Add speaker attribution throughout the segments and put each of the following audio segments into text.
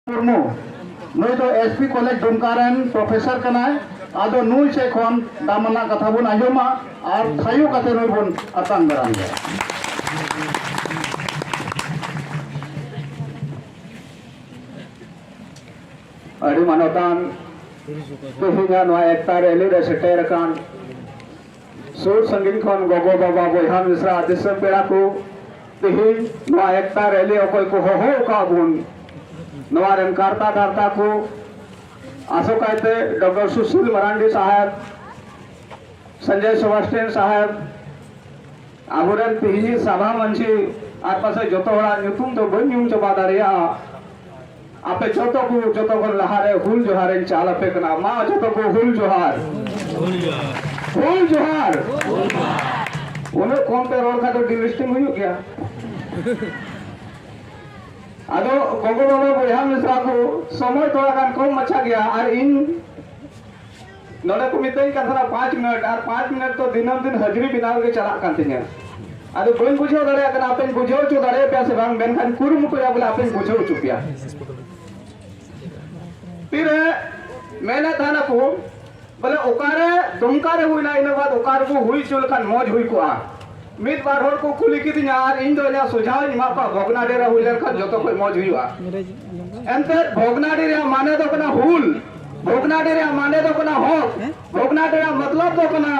Speaker 1: ᱢᱩᱨᱢᱩ ᱱᱩᱭ ᱫᱚ SP college Dumka ᱨᱮᱱ ᱯᱨᱚᱯᱷᱮᱥᱚᱨ ᱠᱟᱱᱟᱭ ᱟᱫᱚ ᱱᱩᱭ ᱥᱮᱫ ᱠᱷᱚᱱ ᱫᱟᱢᱟᱱᱟᱜ ᱠᱟᱛᱷᱟ ᱵᱚᱱ ᱟᱸᱡᱚᱢᱟ ᱟᱨ ᱛᱷᱟᱭᱚ ᱠᱟᱛᱮ ᱱᱩᱭ ᱵᱚᱱ ᱟᱛᱟᱝ ᱫᱟᱨᱟᱢ ᱜᱮᱭᱟ ᱟᱹᱰᱤ ᱢᱟᱱᱚᱛᱟᱱ ᱛᱮᱦᱮᱧᱟᱜ ᱱᱚᱣᱟ ᱮᱠᱛᱟ ᱨᱮᱞᱤ ᱨᱮ ᱥᱮᱴᱮᱨ ᱟᱠᱟᱱ ᱥᱩᱨ ᱥᱟᱺᱜᱤᱧ ᱠᱷᱚᱱ ᱜᱚᱜᱚ ᱵᱟᱵᱟ ᱵᱚᱭᱦᱟ ᱢᱤᱥᱨᱟ ᱫᱤᱥᱚᱢ ᱯᱮᱲᱟ ᱠᱚ ᱛᱮᱦᱮᱧ ᱱᱚᱣᱟ ᱮᱠᱛᱟ ᱨᱮᱞᱤ ᱚᱠᱚᱭ ᱠᱚ ᱦᱚᱦᱚ ᱟᱠᱟᱫ ᱵᱚᱱ ᱱᱚᱣᱟ ᱨᱮᱱ ᱠᱟᱨᱛᱟ ᱫᱷᱟᱨᱛᱟ ᱠᱚ ᱟᱥᱚᱠᱟᱭᱛᱮ ᱰᱚᱠᱴᱚᱨ ᱥᱩᱥᱤᱞ ᱢᱟᱨᱟᱱᱰᱤ ᱥᱟᱦᱮᱵᱽ ᱥᱚᱧᱡᱚᱭ ᱥᱮᱵᱟᱥᱴᱤᱭᱟᱱ ᱥᱟᱦᱮᱵᱽ ᱟᱵᱚᱨᱮᱱ ᱛᱮᱦᱮᱧᱤᱡ ᱥᱟᱵᱷᱟ ᱢᱟᱹᱡᱷᱤ ᱟᱨ ᱯᱟᱥᱮᱡ ᱡᱚᱛᱚ ᱦᱚᱲᱟᱜ ᱧᱩᱛᱩᱢ ᱫᱚ ᱵᱟᱹᱧ ᱧᱩᱢ ᱪᱟᱵᱟ ᱫᱟᱲᱮᱭᱟᱜᱼᱟ ᱟᱯᱮ ᱡᱚᱛᱚ ᱠᱚ ᱡᱚᱛᱚ ᱠᱷᱚᱱ ᱞᱟᱦᱟᱨᱮ ᱦᱩᱞ ᱡᱚᱦᱟᱨ ᱤᱧ ᱪᱟᱞ ᱟᱯᱮ ᱠᱟᱱᱟ ᱢᱟ ᱡᱚᱛᱚ ᱠᱚ ᱦᱩᱞ ᱡᱚᱦᱟᱨ ᱦᱩᱞ ᱡᱚᱦᱟᱨ ᱦᱩᱞ ᱡᱚᱦᱟᱨ ᱩᱱᱟᱹᱜ ᱠᱚᱢ ᱯᱮ ᱨᱚᱲ ᱠᱷᱟᱱ ᱫᱚ ᱰᱤᱞᱤᱥᱴᱤᱝ ᱦᱩᱭᱩᱜ ᱜᱮᱭᱟ ᱟᱫᱚ ᱜᱚᱜᱚ ᱵᱟᱵᱟ ᱵᱚᱭᱦᱟ ᱢᱤᱥᱨᱟ ᱠᱚ ᱥᱚᱢᱚᱭ ᱛᱷᱚᱲᱟ ᱜᱟᱱ ᱠᱚᱢ ᱢᱟᱪᱷᱟ ᱜᱮᱭᱟ ᱟᱨ ᱤᱧ ᱱᱚᱰᱮ ᱠᱚ ᱢᱤᱛᱟᱹᱧ ᱠᱟᱱ ᱛᱟᱦᱮᱱᱟ ᱯᱟᱸᱪ ᱢᱤᱱᱤᱴ ᱟᱨ ᱯᱟᱸᱪ ᱢᱤᱱᱤᱴ ᱫᱚ ᱫᱤᱱᱟᱹᱢ ᱫᱤᱱ ᱦᱟᱹᱡᱨᱤ ᱵᱮᱱᱟᱣ ᱨᱮᱜᱮ ᱪᱟᱞᱟᱜ ᱠᱟᱱ ᱛᱤᱧᱟ ᱟᱫᱚ ᱵᱟᱹᱧ ᱵᱩᱡᱷᱟᱹᱣ ᱫᱟᱲᱮᱭᱟᱜ ᱠᱟᱱᱟ ᱟᱯᱮᱧ ᱵᱩᱡᱷᱟᱹᱣ ᱦᱚᱪᱚ ᱫᱟᱲᱮ ᱯᱮᱭᱟ ᱥᱮ ᱵᱟᱝ ᱢᱮᱱᱠᱷᱟᱱ ᱠᱩᱨᱩᱢᱩᱴᱩᱭᱟ ᱵᱚᱞᱮ ᱟᱯᱮᱧ ᱵᱩᱡᱷᱟᱹᱣ ᱦᱚᱪᱚ ᱯᱮᱭᱟ ᱛᱤᱨᱮ ᱢᱮᱱᱮᱫ ᱛᱟᱦᱮᱱᱟ ᱠᱚ ᱵᱚᱞᱮ ᱚᱠᱟᱨᱮ ᱫᱩᱢᱠᱟ ᱨᱮ ᱦᱩᱭᱱᱟ ᱤᱱᱟᱹ ᱵᱟᱫ ᱚᱠᱟ ᱨᱮᱵᱚ ᱦᱩᱭ ᱦᱚᱪᱚ ᱞᱮᱠᱷᱟᱱ ᱢᱚᱡᱽ ᱦᱩᱭ ᱠᱚᱜᱼᱟ ᱢᱤᱫ ᱵᱟᱨ ᱦᱚᱲ ᱠᱚ ᱠᱩᱞᱤ ᱠᱤᱫᱤᱧᱟ ᱟᱨ ᱤᱧ ᱫᱚ ᱤᱧᱟᱹᱜ ᱥᱚᱡᱷᱟᱣᱤᱧ ᱮᱢᱟ ᱠᱚᱣᱟ ᱵᱷᱚᱜᱽᱱᱟᱰᱤ ᱨᱮ ᱦᱩᱭ ᱞᱮᱱᱠᱷᱟᱱ ᱡᱚᱛᱚ ᱠᱷᱚᱱ ᱢᱚᱡᱽ ᱦᱩᱭᱩᱜᱼᱟ ᱮᱱᱛᱮ ᱵᱷᱚᱜᱽᱱᱟᱰᱤ ᱨᱮᱭᱟᱜ ᱢᱟᱱᱮ ᱫᱚ ᱠᱟᱱᱟ ᱦᱩᱞ ᱵᱷᱚᱜᱽᱱᱟᱰᱤ ᱨᱮᱭᱟᱜ ᱢᱟᱱᱮ ᱫᱚ ᱠᱟᱱᱟ ᱦᱚᱠ ᱵᱷᱚᱜᱽᱱᱟᱰᱤ ᱨᱮᱭᱟᱜ ᱢᱚᱛᱞᱚᱵ ᱫᱚ ᱠᱟᱱᱟ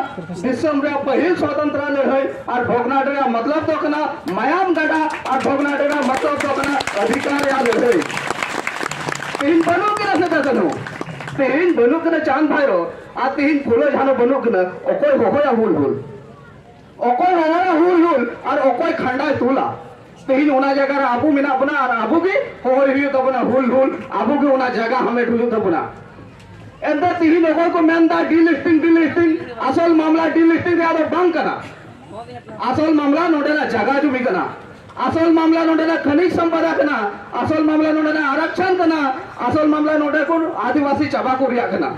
Speaker 1: ᱫᱤᱥᱚᱢ ᱨᱮᱭᱟᱜ ᱯᱟᱹᱦᱤᱞ ᱥᱚᱛᱚᱱᱛᱨᱟ ᱞᱟᱹᱲᱦᱟᱹᱭ ᱟᱨ ᱵᱷᱚᱜᱽᱱᱟᱰᱤ ᱨᱮᱭᱟᱜ ᱢᱚᱛᱞᱚᱵ ᱫᱚ ᱠᱟᱱᱟ ᱢᱟᱭᱟᱢ ᱜᱟᱰᱟ ᱟᱨ ᱵᱷᱚᱜᱽᱱᱟᱰᱤ ᱨᱮᱭᱟᱜ ᱢᱚᱛᱞᱚᱵ ᱫᱚ ᱠᱟᱱᱟ ᱚᱫᱷᱤᱠᱟᱨ ᱨᱮᱭᱟᱜ ᱞᱟᱹᱲᱦᱟᱹᱭ ᱛᱮᱦᱮᱧ ᱵᱟᱹᱱᱩᱜ ᱠᱤᱱᱟ ᱥᱮᱫᱟ ᱠᱟᱹᱱᱩ ᱛᱮᱦᱮᱧ ᱵᱟᱹᱱᱩᱜ ᱠᱤᱱᱟ ᱪᱟᱸᱫᱽ ᱵᱷᱟᱭᱨᱚ ᱟᱨ ᱛᱮᱦᱮᱧ ᱯᱷᱩᱞᱳ ᱡᱷᱟᱱᱚ ᱵᱟᱹᱱᱩᱜ ᱠᱤᱱᱟ ᱚᱠᱚᱭ ᱦᱚᱦᱚᱭᱟ ᱦᱩᱞ ᱦᱩᱞ ᱚᱠᱚᱭ ᱨᱟᱣᱟᱲᱟ ᱦᱩᱞ ᱦᱩᱞ ᱟᱨ ᱚᱠᱚᱭ ᱠᱷᱟᱱᱰᱟᱭ ᱛᱩᱞᱟ ᱛᱮᱦᱮᱧ ᱚᱱᱟ ᱡᱟᱭᱜᱟ ᱨᱮ ᱟᱵᱚ ᱢᱮᱱᱟᱜ ᱵᱚᱱᱟ ᱟᱨ ᱟᱵᱚ ᱜᱮ ᱦᱚᱦᱚᱭ ᱦᱩᱭᱩᱜ ᱛᱟᱵᱚᱱᱟ ᱦᱩᱞ ᱦᱩᱞ ᱟᱵᱚ ᱜᱮ ᱚᱱᱟ ᱡᱟᱭᱜᱟ ᱦᱟᱢᱮᱴ ᱦᱩᱭᱩᱜ ᱛᱟᱵᱚᱱᱟ ᱮᱱᱛᱮ ᱛᱮᱦᱮᱧ ᱚᱠᱚᱭ ᱠᱚ ᱢᱮᱱ ᱫᱟ ᱰᱤᱞᱤᱥᱴᱤᱝ ᱰᱤᱞᱤᱥᱴᱤᱝ ᱟᱥᱚᱞ ᱢᱟᱢᱞᱟ ᱰᱤᱞᱤᱥᱴᱤᱝ ᱨᱮᱭᱟᱜ ᱫᱚ ᱵᱟᱝ ᱠᱟᱱᱟ ᱟᱥᱚᱞ ᱢᱟᱢᱞᱟ ᱱᱚᱰᱮᱱᱟᱜ ᱡᱟᱭᱜᱟ ᱡᱩᱢᱤ ᱠᱟᱱᱟ ᱟᱥᱚᱞ ᱢᱟᱢᱞᱟ ᱱᱚᱰᱮᱱᱟᱜ ᱠᱷᱟᱹᱱᱤᱡ ᱥᱚᱢᱯᱚᱫᱟ ᱠᱟᱱᱟ ᱟᱥᱚᱞ ᱢᱟᱢᱞᱟ ᱱᱚᱰᱮᱱᱟᱜ ᱟᱨᱟᱠᱪᱷᱟᱱ ᱠᱟᱱᱟ ᱟᱥᱚᱞ ᱢᱟᱢᱞᱟ ᱱᱚᱰᱮ ᱠᱚ ᱟᱹᱫᱤᱵᱟᱹᱥᱤ ᱪᱟᱵᱟ ᱠᱚ ᱨᱮᱭᱟᱜ ᱠᱟᱱᱟ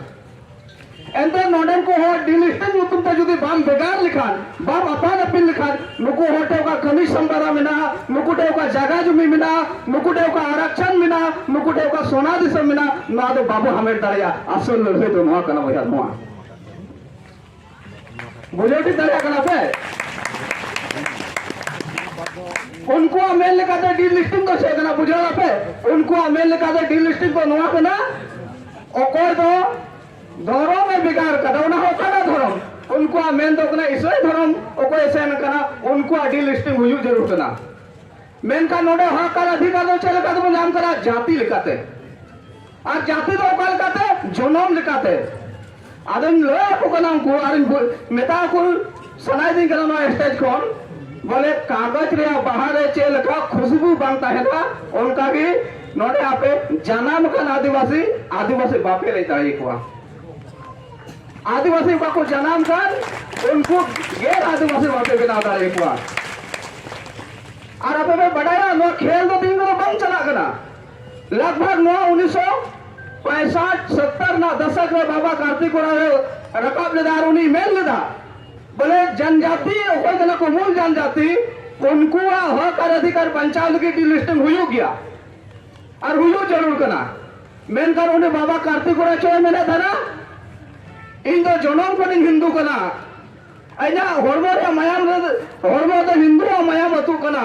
Speaker 1: ᱮᱱᱛᱮ ᱱᱚᱰᱮ ᱠᱚ ᱦᱚᱲ ᱰᱤᱞᱤᱥᱴᱮᱱ ᱧᱩᱛᱩᱢ ᱛᱮ ᱡᱩᱫᱤ ᱵᱟᱢ ᱵᱷᱮᱜᱟᱨ ᱞᱮᱠᱷᱟᱱ ᱵᱟᱢ ᱟᱯᱟᱱ ᱟᱹᱯᱤᱱ ᱞᱮᱠᱷᱟᱱ ᱱᱩᱠᱩ ᱦᱚᱲ ᱴᱷᱮᱱ ᱚᱠᱟ ᱠᱟᱹᱢᱤ ᱥᱟᱢᱵᱟᱨᱟ ᱢᱮᱱᱟᱜᱼᱟ ᱱᱩᱠᱩ ᱴᱷᱮᱱ ᱚᱠᱟ ᱡᱟᱭᱜᱟ ᱡᱩᱢᱤ ᱢᱮᱱᱟᱜᱼᱟ ᱱᱩᱠᱩ ᱴᱷᱮᱱ ᱚᱠᱟ ᱟᱨᱟᱠᱪᱷᱟᱱ ᱢᱮᱱᱟᱜᱼᱟ ᱱᱩᱠᱩ ᱴᱷᱮᱱ ᱚᱠᱟ ᱥᱚᱱᱟ ᱫᱤᱥᱚᱢ ᱢᱮᱱᱟᱜᱼᱟ ᱱᱚᱣᱟ ᱫᱚ ᱵᱟᱵᱚ ᱦᱟᱢᱮᱴ ᱫᱟᱲᱮᱭᱟᱜᱼᱟ ᱟᱥᱚᱞ ᱞᱟᱹᱲᱦᱟᱹᱭ ᱫᱚ ᱱᱚᱣᱟ ᱠᱟᱱᱟ ᱵᱚᱭᱦᱟ ᱱᱚᱣᱟ ᱵᱩᱡᱷᱟᱹᱣ ᱴᱷᱤᱠ ᱫᱟᱲᱮᱭᱟᱜ ᱠᱟᱱᱟ ᱯᱮ ᱩᱱᱠᱩᱣᱟᱜ ᱢᱮᱱ ᱞᱮᱠᱟᱛᱮ ᱰᱤᱞᱤᱥᱴᱤᱝ ᱫᱚ ᱪᱮᱫ ᱠᱟᱱᱟ ᱵᱩᱡᱷᱟᱹᱣ ᱟᱯᱮ ᱩᱱᱠᱩᱣᱟᱜ ᱢᱮᱱ ᱞᱮᱠᱟᱛᱮ ᱰᱤᱞᱤᱥᱴᱤᱝ ᱫᱚ ᱱᱚᱣᱟ ᱠᱟᱱᱟ ᱚᱠᱚᱭ ᱫᱚ ᱫᱷᱚᱨᱚᱢ ᱮ ᱵᱷᱮᱜᱟᱨ ᱠᱟᱫᱟ ᱚᱱᱟ ᱦᱚᱸ ᱚᱠᱟᱴᱟᱜ ᱫᱷᱚᱨᱚᱢ ᱩᱱᱠᱩᱣᱟᱜ ᱢᱮᱱ ᱫᱚ ᱠᱟᱱᱟ ᱤᱥᱟᱹᱭ ᱫᱷᱚᱨᱚᱢ ᱚᱠᱚᱭ ᱥᱮᱱ ᱠᱟᱱᱟ ᱩᱱᱠᱩᱣᱟᱜ ᱰᱤᱞᱤᱥᱴᱤᱝ ᱦᱩᱭᱩᱜ ᱡᱟᱹᱨᱩᱲ ᱠᱟᱱᱟ ᱢᱮᱱᱠᱷᱟᱱ ᱱᱚᱰᱮ ᱦᱚᱠ ᱟᱨ ᱚᱫᱷᱤᱠᱟᱨ ᱫᱚ ᱪᱮᱫ ᱞᱮᱠᱟ ᱛᱮᱵᱚᱱ ᱧᱟᱢ ᱠᱟᱫᱟ ᱡᱟᱹᱛᱤ ᱞᱮᱠᱟᱛᱮ ᱟᱨ ᱡᱟᱹᱛᱤ ᱫᱚ ᱚᱠᱟ ᱞᱮᱠᱟᱛᱮ ᱡᱚᱱᱚᱢ ᱞᱮᱠᱟᱛᱮ ᱟᱫᱚᱧ ᱞᱟᱹᱭ ᱟᱠᱚ ᱠᱟᱱᱟ ᱩᱱᱠᱩ ᱟᱨᱤᱧ ᱢᱮᱛᱟ ᱠᱚ ᱥᱟᱱᱟᱭᱮᱫᱤᱧ ᱠᱟᱱᱟ ᱱᱚᱣᱟ ᱥᱴᱮᱡ ᱠᱷᱚᱱ ᱵᱚᱞᱮ ᱠᱟᱜᱚᱡᱽ ᱨᱮᱭᱟᱜ ᱵᱟᱦᱟ ᱨᱮ ᱪᱮᱫ ᱞᱮᱠᱟ ᱠᱷᱩᱥᱵᱩ ᱵᱟᱝ ᱛᱟᱦᱮᱱᱟ ᱚᱱᱠᱟ ᱜᱮ ᱱᱚᱰᱮ ᱟᱯᱮ ᱡᱟᱱᱟᱢ ᱟᱠᱟᱱ ᱟᱹᱫᱤᱵᱟᱹᱥᱤ ᱟᱹᱫᱤᱵᱟᱹᱥᱤ ᱵᱟᱯᱮ ᱞᱟᱹᱭ ᱫᱟᱲᱮ ᱠᱚᱣᱟ ᱟᱹᱫᱤᱵᱟᱹᱥᱤ ᱵᱟᱠᱚ ᱡᱟᱱᱟᱢ ᱠᱟᱱ ᱩᱱᱠᱩ ᱜᱮᱨ ᱟᱹᱫᱤᱵᱟᱹᱥᱤ ᱵᱟᱯᱮ ᱵᱮᱱᱟᱣ ᱫᱟᱲᱮ ᱠᱚᱣᱟ ᱟᱨ ᱟᱯᱮ ᱯᱮ ᱵᱟᱰᱟᱭᱟ ᱱᱚᱣᱟ ᱠᱷᱮᱞ ᱫᱚ ᱛᱤᱦᱤᱧ ᱫᱚ ᱵᱟᱝ ᱪᱟᱞᱟᱜ ᱠᱟᱱᱟ लगभग ᱱᱚᱣᱟ ᱩᱱᱤᱥ ᱥᱚ ᱯᱚᱸᱭᱥᱟᱴ ᱥᱚᱛᱛᱚᱨ ᱨᱮᱱᱟᱜ ᱫᱚᱥᱚᱠ ᱨᱮ ᱵᱟᱵᱟ ᱠᱟᱨᱛᱤ ᱠᱚᱲᱟ ᱨᱮ ᱨᱟᱠᱟᱵ ᱞᱮᱫᱟ ᱟᱨ ᱩᱱᱤ ᱢᱮᱱ ᱞᱮᱫᱟ ᱵᱚᱞᱮ ᱡᱟᱱᱡᱟᱛᱤ ᱚᱠᱚᱭ ᱠᱟᱱᱟ ᱠᱚ ᱢᱩᱞ ᱡᱟᱱᱡᱟᱛᱤ ᱩᱱᱠᱩᱣᱟᱜ ᱦᱚᱠ ᱟᱨ ᱚᱫᱷᱤᱠᱟᱨ ᱵᱟᱧᱪᱟᱣ ᱞᱟᱹᱜᱤᱫ ᱰᱤᱞᱤᱥᱴᱤᱝ ᱦᱩᱭᱩᱜ ᱜᱮᱭᱟ ᱟᱨ ᱦᱩᱭᱩᱜ ᱡᱟᱹᱨᱩᱲ ᱠᱟᱱᱟ ᱢᱮᱱᱠᱷᱟᱱ ᱩᱱᱤ ᱵᱟᱵᱟ ᱠᱟᱨᱛᱤ ᱠᱚᱲᱟ ᱪᱮᱫ ᱮ ᱢᱮᱱᱮᱫ ᱛᱟᱦᱮᱱᱟ ᱤᱧ ᱫᱚ ᱡᱚᱱᱚᱢ ᱠᱷᱚᱱᱤᱧ ᱦᱤᱱᱫᱩ ᱠᱟᱱᱟ ᱤᱧᱟᱹᱜ ᱦᱚᱲᱢᱚ ᱨᱮᱭᱟᱜ ᱢᱟᱭᱟᱢ ᱦᱚᱲᱢᱚ ᱫᱚ ᱦᱤᱱᱫᱩᱣᱟᱜ ᱢᱟᱭᱟᱢ ᱟᱹᱛᱩᱜ ᱠᱟᱱᱟ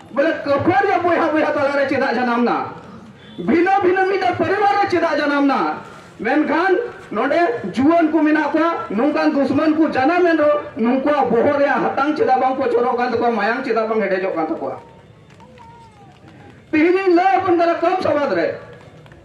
Speaker 1: ᱵᱚᱞᱮ ᱠᱟᱹᱯᱟᱹᱨ ᱨᱮ ᱵᱚᱭᱦᱟ ᱵᱚᱭᱦᱟ ᱛᱟᱞᱟ ᱨᱮ ᱪᱮᱫᱟᱜ ᱡᱟᱱᱟᱢ ᱱᱟ ᱵᱷᱤᱱᱟᱹ ᱵᱷᱤᱱᱟᱹ ᱢᱤᱫ ᱯᱚᱨᱤᱵᱟᱨ ᱨᱮ ᱪᱮᱫᱟᱜ ᱡᱟᱱᱟᱢ ᱱᱟ ᱢᱮᱱᱠᱷᱟᱱ ᱱᱚᱰᱮ ᱡᱩᱣᱟᱹᱱ ᱠᱚ ᱢᱮᱱᱟᱜ ᱠᱚᱣᱟ ᱱᱚᱝᱠᱟᱱ ᱫᱩᱥᱢᱟᱱ ᱠᱚ ᱡᱟᱱᱟᱢ ᱮᱱ ᱨᱮᱦᱚᱸ ᱱᱩᱠᱩᱣᱟᱜ ᱵᱚᱦᱚᱜ ᱨᱮᱭᱟᱜ ᱦᱟᱛᱟᱝ ᱪᱮᱫᱟᱜ ᱵᱟᱝ ᱯᱚᱪᱚᱨᱚᱜ ᱠᱟᱱ ᱛᱟᱠᱚᱣᱟ ᱢᱟᱭᱟᱝ ᱪᱮᱫᱟᱜ ᱵᱟᱝ ᱦᱮᱰᱮᱡᱚᱜ ᱠᱟᱱ ᱛᱟᱠᱚᱣᱟ ᱛᱮᱦᱮᱧᱤᱧ ᱞᱟᱹᱭ ᱟᱵᱚᱱ ᱠᱟᱱᱟ ᱠᱚᱢ ᱥᱚᱵᱟᱫ ᱨᱮ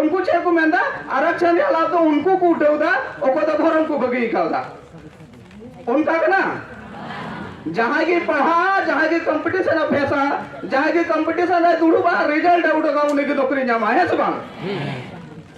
Speaker 1: ᱩᱱᱠᱩ ᱪᱮᱫ ᱠᱚ ᱢᱮᱱᱫᱟ ᱟᱨᱟᱠᱥᱚᱱ ᱨᱮᱭᱟᱜ ᱞᱟᱵᱷ ᱫᱚ ᱩᱱᱠᱩ ᱠᱚ ᱩᱴᱷᱟᱹᱣᱫᱟ ᱚᱠᱚᱭ ᱫᱚ ᱫᱷᱚᱨᱚᱢ ᱠᱚ ᱵᱟᱹᱜᱤ ᱟᱠᱟᱣᱫᱟ ᱚᱱᱠᱟ ᱠᱟᱱᱟ ᱡᱟᱦᱟᱸᱭ ᱜᱮ ᱯᱟᱲᱦᱟᱜᱼᱟ ᱡᱟᱦᱟᱸᱭ ᱜᱮ ᱠᱚᱢᱯᱤᱴᱤᱥᱚᱱ ᱮ ᱯᱷᱮᱥᱟ ᱡᱟᱦᱟᱸᱭ ᱜᱮ ᱠᱚᱢᱯᱤᱴᱤᱥᱚᱱ ᱨᱮ ᱫᱩᱲᱩᱵᱼᱟ ᱨᱮᱡᱟᱞᱴ ᱮ ᱩᱰᱩᱠᱟ ᱩᱱᱤ ᱜᱮ ᱱᱚᱠᱨᱤ ᱧᱟᱢᱟ ᱦᱮᱸ ᱥᱮ ᱵᱟᱝ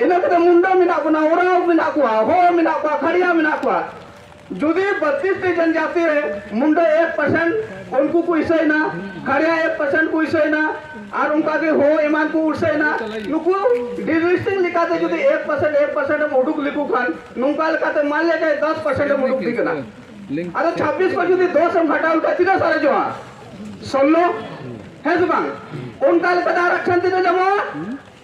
Speaker 1: ᱤᱱᱟᱹ ᱠᱟᱛᱮ ᱢᱩᱱᱰᱟ ᱢᱮᱱᱟᱜ ᱵᱚᱱᱟ ᱳᱨᱟᱣ ᱢᱮᱱᱟᱜ ᱠᱚᱣᱟ ᱦᱚ ᱢᱮᱱᱟᱜ ᱠᱚᱣᱟ ᱠᱷᱟᱲᱤᱭᱟ ᱢᱮᱱᱟᱜ ᱠᱚᱣᱟ ᱡᱩᱫᱤ ᱵᱟᱛᱤᱥ ᱴᱤ ᱡᱚᱱᱡᱟᱛᱤ ᱨᱮ ᱢᱩᱱᱰᱟ ᱮᱠ ᱯᱟᱨᱥᱮᱱᱴ ᱩᱱᱠᱩ ᱠᱚ ᱤᱥᱟᱹᱭᱱᱟ ᱠᱷᱟᱲᱤᱭᱟ ᱮᱠ ᱯᱟᱨᱥᱮᱱᱴ ᱠᱚ ᱤᱥᱟᱹᱭᱱᱟ ᱟᱨ ᱚᱱᱠᱟ ᱜᱮ ᱦᱚ ᱮᱢᱟᱱ ᱠᱚ ᱩᱥᱟᱹᱭᱱᱟ ᱱᱩᱠᱩ ᱰᱤᱞᱤᱥᱴᱤᱝ ᱞᱮᱠᱟᱛᱮ ᱡᱩᱫᱤ ᱮᱠ ᱯᱟᱨᱥᱮᱱᱴ ᱮᱠ ᱯᱟᱨᱥᱮᱱᱴ ᱮᱢ ᱩᱰᱩᱠ ᱞᱮᱠᱚ ᱠᱷᱟᱱ ᱱᱚᱝᱠᱟ ᱞᱮᱠᱟᱛᱮ ᱢᱟᱱ ᱞᱮ ᱡᱟᱭ ᱫᱚᱥ ᱯᱟᱨᱥᱮᱱᱴ ᱮᱢ ᱩᱰᱩᱠ ᱫᱤ ᱠᱟᱱᱟ ᱟᱫᱚ ᱪᱷᱟᱵᱵᱤᱥ ᱠᱚ ᱡᱩᱫᱤ ᱫᱚᱥ ᱮᱢ ᱜᱷᱟᱴᱟᱣ ᱞᱮᱠᱷᱟᱱ ᱛᱤᱱᱟᱹᱜ ᱥᱟᱨᱮᱡᱚᱜᱼᱟ ᱥᱳᱞᱞᱳ ᱦᱮᱸ ᱥᱮ ᱵᱟᱝ ᱚᱱᱠᱟ ᱞᱮᱠᱟᱛᱮ ᱟᱨ ᱟᱠᱥᱟᱱ ᱛᱤᱱᱟᱹᱜ ᱧᱟᱢᱚᱜᱼᱟ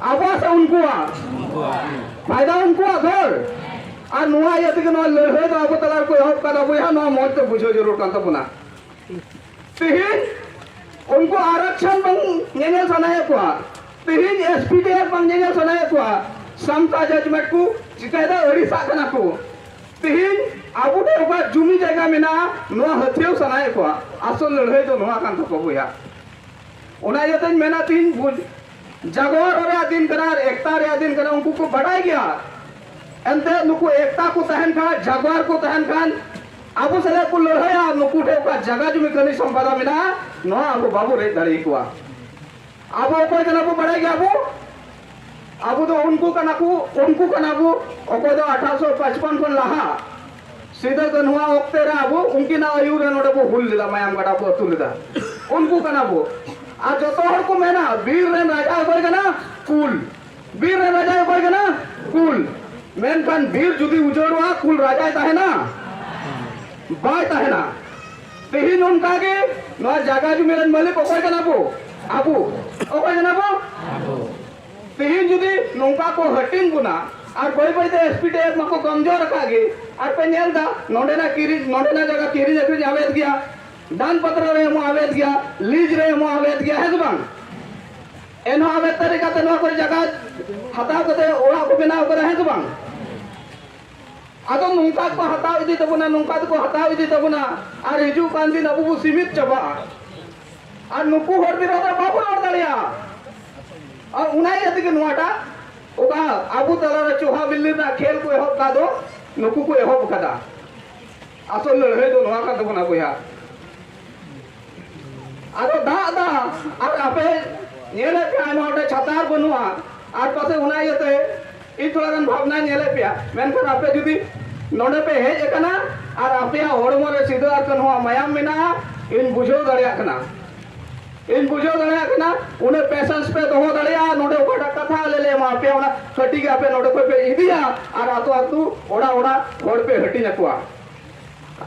Speaker 1: ᱟᱵᱚᱥ ᱩᱱᱠᱩᱣᱟᱜ ᱯᱷᱟᱭᱫᱟ ᱩᱱᱠᱩᱣᱟᱜ ᱫᱷᱚᱨ ᱟᱨ ᱱᱚᱣᱟ ᱤᱭᱟᱹ ᱛᱮᱜᱮ ᱱᱚᱣᱟ ᱞᱟᱹᱲᱦᱟᱹᱭ ᱫᱚ ᱟᱵᱚ ᱛᱟᱞᱟ ᱨᱮᱠᱚ ᱮᱦᱚᱵ ᱠᱟᱫᱟ ᱵᱚᱭᱦᱟ ᱱᱚᱣᱟ ᱢᱚᱡᱽ ᱛᱮ ᱵᱩᱡᱷᱟᱹᱣ ᱡᱟᱹᱨᱩᱲ ᱠᱟᱱ ᱛᱟᱵᱚᱱᱟ ᱛᱮᱦᱮᱧ ᱩᱱᱠᱩ ᱟᱨᱚᱠᱥᱚᱱ ᱵᱟᱝ ᱧᱮᱧᱮᱞ ᱥᱟᱱᱟᱭᱮᱫ ᱠᱚᱣᱟ ᱛᱮᱦᱮᱧ ᱮᱥ ᱯᱤ ᱰᱤ ᱮᱯ ᱵᱟᱝ ᱧᱮᱧᱮᱞ ᱥᱟᱱᱟᱭᱮᱫ ᱠᱚᱣᱟ ᱥᱟᱢᱛᱟ ᱡᱟᱡᱽᱢᱮᱱᱴ ᱠᱚ ᱪᱤᱠᱟᱹᱭᱮᱫᱟ ᱟᱹᱲᱤᱥᱟᱜ ᱠᱟᱱᱟ ᱠᱚ ᱛᱮᱦᱮᱧ ᱟᱵᱚ ᱴᱷᱮᱱ ᱚᱠᱟ ᱡᱩᱢᱤ ᱡᱟᱭᱜᱟ ᱢᱮᱱᱟᱜᱼᱟ ᱱᱚᱣᱟ ᱦᱟᱹᱛᱭᱟᱹᱣ ᱥᱟᱱᱟᱭᱮᱫ ᱠᱚᱣᱟ ᱟᱥᱚᱞ ᱞᱟᱹᱲᱦᱟᱹᱭ ᱫᱚ ᱱᱚᱣᱟ ᱠᱟᱱ ᱛᱟᱠᱚᱣᱟ ᱵᱚᱭᱦᱟ ᱚᱱᱟ ᱤᱭᱟᱹᱛᱮᱧ ᱢᱮᱱᱟ ᱛᱮᱦᱮᱧ ᱡᱟᱜᱚᱨ ᱨᱮᱭᱟᱜ ᱫᱤᱱ ᱠᱟᱱᱟ ᱟᱨ ᱮᱠᱛᱟ ᱨᱮᱭᱟᱜ ᱫᱤᱱ ᱠᱟᱱᱟ ᱩᱱᱠᱩ ᱠᱚ ᱵᱟᱰᱟᱭ ᱜᱮᱭᱟ ᱮᱱᱛᱮ ᱱᱩᱠᱩ ᱮᱠᱛᱟ ᱠᱚ ᱛᱟᱦᱮᱱ ᱠᱷᱟᱱ ᱡᱟᱜᱚᱨ ᱠᱚ ᱛᱟᱦᱮᱱ ᱠᱷᱟᱱ ᱟᱵᱚ ᱥᱟᱞᱮ ᱠᱚ ᱞᱟᱹᱲᱦᱟᱹᱭᱟ ᱱᱩᱠᱩ ᱴᱷᱮᱱ ᱚᱠᱟ ᱡᱟᱭᱜᱟ ᱡᱩᱢᱤ ᱠᱟᱹᱢᱤ ᱥᱚᱢᱯᱟᱫᱟ ᱢᱮᱱᱟᱜᱼᱟ ᱱᱚᱣᱟ ᱟᱵᱚ ᱵᱟᱵᱚ ᱨᱮᱡ ᱫᱟᱲᱮ ᱠᱚᱣᱟ ᱟᱵᱚ ᱚᱠᱚᱭ ᱠᱟᱱᱟ ᱵᱚ ᱵᱟᱰᱟᱭ ᱜᱮᱭᱟ ᱵᱚ ᱟᱵᱚ ᱫᱚ ᱩᱱᱠᱩ ᱠᱟᱱᱟ ᱠᱚ ᱩᱱᱠᱩ ᱠᱟᱱᱟ ᱵᱚ ᱚᱠᱚᱭ ᱫᱚ ᱟᱴᱷᱟᱥᱚ ᱯᱟᱸᱪᱯᱚᱱ ᱠᱷᱚᱱ ᱞᱟᱦᱟ ᱥᱤᱫᱟᱹ ᱠᱟᱹᱱᱦᱩᱣᱟᱜ ᱚᱠᱛᱮ ᱨᱮ ᱟᱵᱚ ᱩᱱᱠᱤᱱᱟᱜ ᱟᱹᱭᱩᱨ ᱨᱮ ᱱᱚᱰᱮ ᱵᱚ ᱦᱩᱞ ᱞᱮᱫᱟ ᱢᱟᱭᱟᱢ ᱜᱟᱰᱟ ᱵᱚ ᱟᱹᱛᱩ ᱞᱮᱫᱟ ᱩᱱᱠᱩ ᱠᱟᱱᱟ ᱵᱚ ᱟᱨ ᱡᱚᱛᱚ ᱦᱚᱲ ᱠᱚ ᱢᱮᱱᱟ ᱵᱤᱨ ᱨᱮᱱ ᱨᱟᱡᱟ ᱚᱠᱚᱭ ᱠᱟᱱᱟ ᱠᱩᱞ ᱵᱤᱨ ᱨᱮᱱ ᱨᱟᱡᱟ ᱚᱠᱚᱭ ᱠᱟᱱᱟ ᱠᱩᱞ ᱢᱮᱱᱠᱷᱟᱱ ᱵᱤᱨ ᱡᱩᱫᱤ ᱩᱡᱟᱹᱲᱚᱜᱼᱟ ᱠᱩᱞ ᱨᱟᱡᱟᱭ ᱛᱟᱦᱮᱱᱟ ᱵᱟᱭ ᱛᱟᱦᱮᱱᱟ ᱛᱮᱦᱮᱧ ᱚᱱᱠᱟ ᱜᱮ ᱱᱚᱣᱟ ᱡᱟᱭᱜᱟ ᱡᱩᱢᱤ ᱨᱮᱱ ᱢᱟᱹᱞᱤᱠ ᱚᱠᱚᱭ ᱠᱟᱱᱟ ᱵᱚ ᱟᱵᱚ ᱚᱠᱚᱭ ᱠᱟᱱᱟ ᱵᱚ ᱛᱮᱦᱮᱧ ᱡᱩᱫᱤ ᱱᱚᱝᱠᱟ ᱠᱚ ᱦᱟᱹᱴᱤᱧ ᱵᱚᱱᱟ ᱟᱨ ᱵᱟᱹᱭ ᱵᱟᱹᱭ ᱛᱮ ᱮᱥᱯᱤᱰᱤᱮᱯᱷ ᱢᱟᱠᱚ ᱠᱚᱢᱡᱳᱨ ᱟᱠᱟᱫ ᱜᱮ ᱟᱨ ᱯᱮ ᱧᱮᱞ ᱫᱟ ᱱᱚᱰᱮᱱᱟᱜ ᱠᱤᱨᱤᱧ ᱱᱚᱰᱮᱱᱟᱜ ᱡᱟᱭᱜᱟ ᱠᱤᱨᱤᱧ ᱟᱹᱠᱷᱨᱤᱧ ᱟᱵᱮᱫ ᱜᱮᱭᱟ ᱫᱟᱱ ᱯᱟᱛᱨᱟ ᱨᱮ ᱮᱢᱚᱜ ᱟᱵᱮᱫ ᱜᱮᱭᱟ ᱞᱤᱡ ᱨᱮ ᱮᱢᱚᱜ ᱟᱵᱮᱫ ᱜᱮᱭᱟ ᱦᱮᱸ ᱥᱮ ᱵᱟᱝ ᱮᱱᱦᱚᱸ ᱟᱵᱮᱫ ᱛᱟᱹᱨᱤ ᱠᱟᱛᱮ ᱱᱚᱣᱟ ᱠᱚᱨᱮ ᱡᱟᱭᱜᱟ ᱦᱟᱛᱟᱣ ᱠᱟᱛᱮ ᱚᱲᱟᱜ ᱠᱚ ᱵᱮᱱᱟᱣ ᱠᱟᱫᱟ ᱦᱮᱸ ᱥᱮ ᱵᱟᱝ ᱟᱫᱚ ᱱᱚᱝᱠᱟ ᱠᱚ ᱦᱟᱛᱟᱣ ᱤᱫᱤ ᱛᱟᱵᱚᱱᱟ ᱱᱚᱝᱠᱟ ᱛᱮᱠᱚ ᱦᱟᱛᱟᱣ ᱤᱫᱤ ᱛᱟᱵᱚᱱᱟ ᱟᱨ ᱦᱤᱡᱩᱜ ᱠᱟᱱ ᱫᱤᱱ ᱟᱵᱚ ᱵᱚ ᱥᱤᱢᱤᱛ ᱪᱟᱵᱟᱜᱼᱟ ᱟᱨ ᱱᱩᱠᱩ ᱦᱚᱲ ᱵᱤᱨᱳᱫᱷ ᱨᱮ ᱵᱟᱵᱚ ᱨᱚᱲ ᱫᱟᱲᱮᱭᱟᱜᱼᱟ ᱟᱨ ᱚᱱᱟ ᱤᱭᱟᱹ ᱛᱮᱜᱮ ᱱᱚᱣᱟᱴᱟᱜ ᱚᱠᱟ ᱟᱵᱚ ᱛᱟᱞᱟᱨᱮ ᱪᱚᱦᱟ ᱵᱤᱞᱞᱤ ᱨᱮᱱᱟᱜ ᱠᱷᱮᱞ ᱠᱚ ᱮᱦᱚᱵ ᱠᱟᱜ ᱫᱚ ᱱᱩᱠᱩ ᱠᱚ ᱮᱦᱚᱵ ᱟᱠᱟᱫᱟ ᱟᱥᱚᱞ ᱞᱟᱹᱲᱦᱟᱹᱭ ᱫᱚ ᱱᱚᱣᱟ ᱠᱟᱱ ᱛᱟᱵᱚᱱᱟ ᱵᱚᱭᱦᱟ ᱟᱫᱚ ᱫᱟᱜ ᱫᱟ ᱟᱨ ᱟᱯᱮ ᱧᱮᱞᱮᱫ ᱯᱮ ᱟᱭᱢᱟ ᱦᱚᱲ ᱴᱷᱮᱱ ᱪᱷᱟᱛᱟ ᱟᱨ ᱵᱟᱹᱱᱩᱜᱼᱟ ᱟᱨ ᱯᱟᱥᱮ ᱚᱱᱟ ᱤᱭᱟᱹᱛᱮ ᱤᱧ ᱛᱷᱚᱲᱟ ᱜᱟᱱ ᱵᱷᱟᱵᱽᱱᱟᱧ ᱧᱮᱞᱮᱫ ᱯᱮᱭᱟ ᱢᱮᱱᱠᱷᱟᱱ ᱟᱯᱮ ᱡᱩᱫᱤ ᱱᱚᱰᱮ ᱯᱮ ᱦᱮᱡ ᱟᱠᱟᱱᱟ ᱟᱨ ᱟᱯᱮᱭᱟᱜ ᱦᱚᱲᱢᱚ ᱨᱮ ᱥᱤᱫᱟᱹ ᱟᱨ ᱠᱟᱹᱱᱦᱩᱣᱟᱜ ᱢᱟᱭᱟᱢ ᱢᱮᱱᱟᱜᱼᱟ ᱤᱧ ᱵᱩᱡᱷᱟᱹᱣ ᱫᱟᱲᱮᱭᱟᱜ ᱠᱟᱱᱟ ᱤᱧ ᱵᱩᱡᱷᱟᱹᱣ ᱫᱟᱲᱮᱭᱟᱜ ᱠᱟᱱᱟ ᱩᱱᱟᱹᱜ ᱯᱮᱥᱮᱱᱥ ᱯᱮ ᱫᱚᱦᱚ ᱫᱟᱲᱮᱭᱟᱜᱼᱟ ᱱᱚᱰᱮ ᱚᱠᱟᱴᱟᱜ ᱠᱟᱛᱷᱟ ᱟᱞᱮ ᱞᱮ ᱮᱢᱟ ᱯᱮᱭᱟ ᱚᱱᱟ ᱠᱟᱹᱴᱤᱡ ᱜᱮ ᱟᱯᱮ ᱱᱚᱰᱮ ᱠᱷᱚᱱ ᱯᱮ ᱤᱫᱤᱭᱟ ᱟᱨ ᱟᱛᱳ ᱟᱛᱳ ᱚᱲᱟᱜ ᱚᱲᱟᱜ ᱦᱚᱲ ᱯᱮ ᱦᱟᱹᱴᱤᱧ ᱟᱠᱚᱣᱟ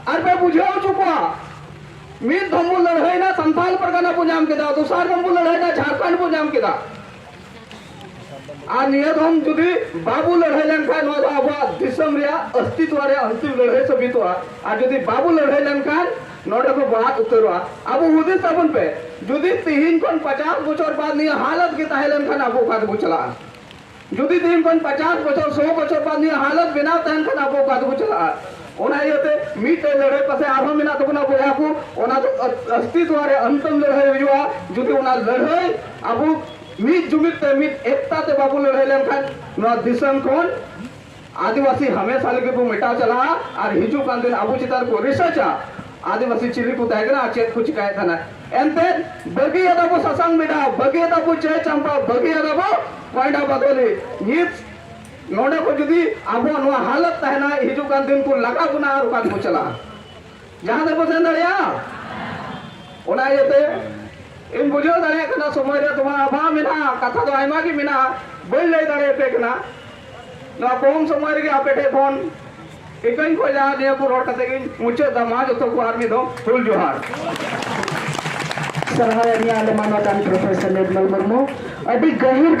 Speaker 1: ᱟᱨ ᱯᱮ ᱵᱩᱡᱷᱟᱹᱣ ᱦᱚᱪᱚ ᱠᱚᱣᱟ ᱢᱤᱫ ᱫᱷᱚᱢ ᱵᱚ ᱞᱟᱹᱲᱦᱟᱹᱭᱱᱟ ᱥᱟᱱᱛᱟᱞ ᱯᱟᱨᱜᱟᱱᱟ ᱵᱚ ᱧᱟᱢ ᱠᱮᱫᱟ ᱫᱚᱥᱟᱨ ᱫᱷᱚᱢ ᱵᱚ ᱞᱟᱹᱲᱦᱟᱹᱭᱱᱟ ᱡᱷᱟᱲᱠᱷᱚᱸᱰ ᱵᱚ ᱧᱟᱢ ᱠᱮᱫᱟ ᱟᱨ ᱱᱤᱭᱟᱹ ᱫᱷᱚᱢ ᱡᱩᱫᱤ ᱵᱟᱵᱚ ᱞᱟᱹᱲᱦᱟᱹᱭ ᱞᱮᱱᱠᱷᱟᱱ ᱱᱚᱣᱟ ᱫᱚ ᱟᱵᱚᱣᱟᱜ ᱫᱤᱥᱚᱢ ᱨᱮᱭᱟᱜ ᱚᱥᱛᱤᱛᱣ ᱨᱮᱭᱟᱜ ᱦᱚᱸ ᱞᱟᱹᱲᱦᱟᱹᱭ ᱥᱟᱹᱵᱤᱛᱚᱜᱼᱟ ᱟᱨ ᱡᱩᱫᱤ ᱵᱟᱵᱚ ᱞᱟᱹᱲᱦᱟᱹᱭ ᱞᱮᱱᱠᱷᱟᱱ ᱱᱚᱰᱮ ᱠᱚ ᱵᱟᱫ ᱩᱛᱟᱹᱨᱚᱜᱼᱟ ᱟᱵᱚ ᱦᱩᱫᱤᱥ ᱟᱵᱚᱱ ᱯᱮ ᱡᱩᱫᱤ ᱛᱤᱦᱤᱧ ᱠᱷᱚᱱ ᱯᱟᱪᱟᱥ ᱵᱚᱪᱷᱚᱨ ᱵᱟᱫ ᱱᱤᱭᱟᱹ ᱦᱟᱞᱚᱛ ᱜᱮ ᱛᱟᱦᱮᱸ ᱞᱮᱱᱠᱷᱟᱱ ᱟᱵᱚ ᱚᱠᱟ ᱛᱮᱵᱚ ᱪᱟᱞᱟᱜᱼᱟ ᱡᱩᱫᱤ ᱛᱤᱦᱤᱧ ᱠᱷᱚᱱ ᱯᱟᱪᱟᱥ ᱵᱚᱪᱷᱚᱨ ᱥᱚ ᱵᱚᱪᱷᱚᱨ ᱵᱟᱫ ᱱᱤᱭᱟᱹ ᱦᱟᱞᱚᱛ ᱵᱮᱱᱟᱣ ᱛᱟᱦᱮᱱ ᱠᱷᱟᱱ ᱟᱵᱚ ᱚᱠᱟ ᱛᱮᱵᱚ ᱪᱟᱞᱟᱜᱼᱟ ᱚᱱᱟ ᱤᱭᱟᱹᱛᱮ ᱢᱤᱫᱴᱮᱡ ᱞᱟᱹᱲᱦᱟᱹᱭ ᱯᱟᱥᱮ ᱟᱨᱦᱚᱸ ᱢᱮᱱᱟᱜ ᱛᱟᱵᱚᱱᱟ ᱵᱚᱭᱦᱟ ᱠᱚ ᱚᱱᱟ ᱫᱚ ᱚᱥᱛᱤᱛᱣ ᱨᱮ ᱚᱱᱛᱚᱢ ᱞᱟᱹᱲᱦᱟᱹᱭ ᱦᱩᱭᱩᱜᱼᱟ ᱡᱩᱫᱤ ᱚᱱᱟ ᱞᱟᱹᱲᱦᱟᱹᱭ ᱟᱵᱚ ᱢᱤᱫ ᱡᱩᱢᱤᱫ ᱛᱮ ᱢᱤᱫ ᱮᱠᱛᱟ ᱛᱮ ᱵᱟᱵᱚ ᱞᱟᱹᱲᱦᱟᱹᱭ ᱞᱮᱱᱠᱷᱟᱱ ᱱᱚᱣᱟ ᱫᱤᱥᱚᱢ ᱠᱷᱚᱱ ᱟᱹᱫᱤᱵᱟᱹᱥᱤ ᱦᱟᱢᱮᱥᱟ ᱞᱟᱹᱜᱤᱫ ᱵᱚ ᱢᱮᱴᱟᱣ ᱪᱟᱞᱟᱜᱼᱟ ᱟᱨ ᱦᱤᱡᱩᱜ ᱠᱟᱱ ᱫᱤᱱ ᱟᱵᱚ ᱪᱮᱛᱟᱱ ᱨᱮᱠᱚ ᱨᱤᱥᱟᱨᱪᱟ ᱟᱹᱫᱤᱵᱟᱹᱥᱤ ᱪᱤᱞᱤ ᱠᱚ ᱛᱟᱦᱮᱸ ᱠᱟᱱᱟ ᱟᱨ ᱪᱮᱫ ᱠᱚ ᱪᱤᱠᱟᱹᱭᱮᱫ ᱛᱟᱦᱮᱱᱟ ᱮᱱᱛᱮ ᱵᱟᱹᱜᱤᱭᱟᱫᱟ ᱵᱚ ᱥᱟᱥᱟᱝ ᱢᱮᱰᱟ ᱵᱟᱹᱜᱤᱭᱟᱫᱟ ᱵᱚ ᱪᱟᱹᱭ ᱪᱟᱢᱯᱟ ᱵᱟᱹᱜᱤᱭᱟᱫᱟ ᱵᱚ ᱠᱚᱭᱰᱟ ᱵᱟᱫᱚᱞᱤ ᱱᱤᱛ ᱱᱚᱰᱮ ᱠᱷᱚᱱ ᱡᱩᱫᱤ ᱟᱵᱚ ᱱᱚᱣᱟ ᱦᱟᱞᱚᱛ ᱛᱟᱦᱮᱱᱟ ᱦᱤᱡᱩᱜ ᱠᱟᱱ ᱫᱤᱱ ᱠᱚ ᱞᱟᱜᱟ ᱵᱚᱱᱟ ᱟᱨ ᱚᱠᱟ ᱛᱮᱵᱚ ᱪᱟᱞᱟᱜᱼᱟ ᱡᱟᱦᱟᱸ ᱛᱮᱵᱚ ᱥᱮᱱ ᱫᱟᱲᱮᱭᱟᱜᱼᱟ ᱚᱱᱟ ᱤᱭᱟᱹᱛᱮ ᱤᱧ ᱵᱩᱡᱷᱟᱹᱣ ᱫᱟᱲᱮᱭᱟᱜ ᱠᱟᱱᱟ ᱥᱚᱢᱚᱭ ᱨᱮ ᱛᱚᱢᱟ ᱟᱵᱷᱟᱣ ᱢᱮᱱᱟᱜᱼᱟ ᱠᱟᱛᱷᱟ ᱫᱚ ᱟᱭᱢᱟ ᱜᱮ ᱢᱮᱱᱟᱜᱼᱟ ᱵᱟᱹᱧ ᱞᱟᱹᱭ ᱫᱟᱲᱮᱭᱟᱯᱮ ᱠᱟᱱᱟ ᱱᱚᱣᱟ ᱠᱚᱢ ᱥᱚᱢᱚᱭ ᱨᱮᱜᱮ ᱟᱯᱮ ᱴᱷᱮᱱ ᱠᱷᱚᱱ ᱤᱠᱟᱹᱧ ᱠᱷᱚᱡᱟ ᱱᱤᱭᱟᱹ ᱠᱚ ᱨᱚᱲ ᱠᱟᱛᱮ ᱜᱤᱧ ᱢᱩᱪᱟᱹᱫ ᱫᱟ ᱢᱟ ᱡᱚᱛᱚ ᱠᱚ ᱟᱨ ᱢᱤᱫ ᱫᱚ ᱦᱩᱞ ᱡᱚᱦᱟᱨ ᱥᱟᱨᱦᱟᱣ ᱮᱢ ᱧᱟᱢ ᱞᱮᱢᱟ ᱱᱚᱰᱟᱱ ᱯᱨᱚᱯᱷᱮᱥᱚᱨ ᱱᱤᱨᱢᱚᱞ ᱢᱩᱨᱢᱩ ᱟᱹᱰᱤ ᱜᱟᱹᱦᱤᱨ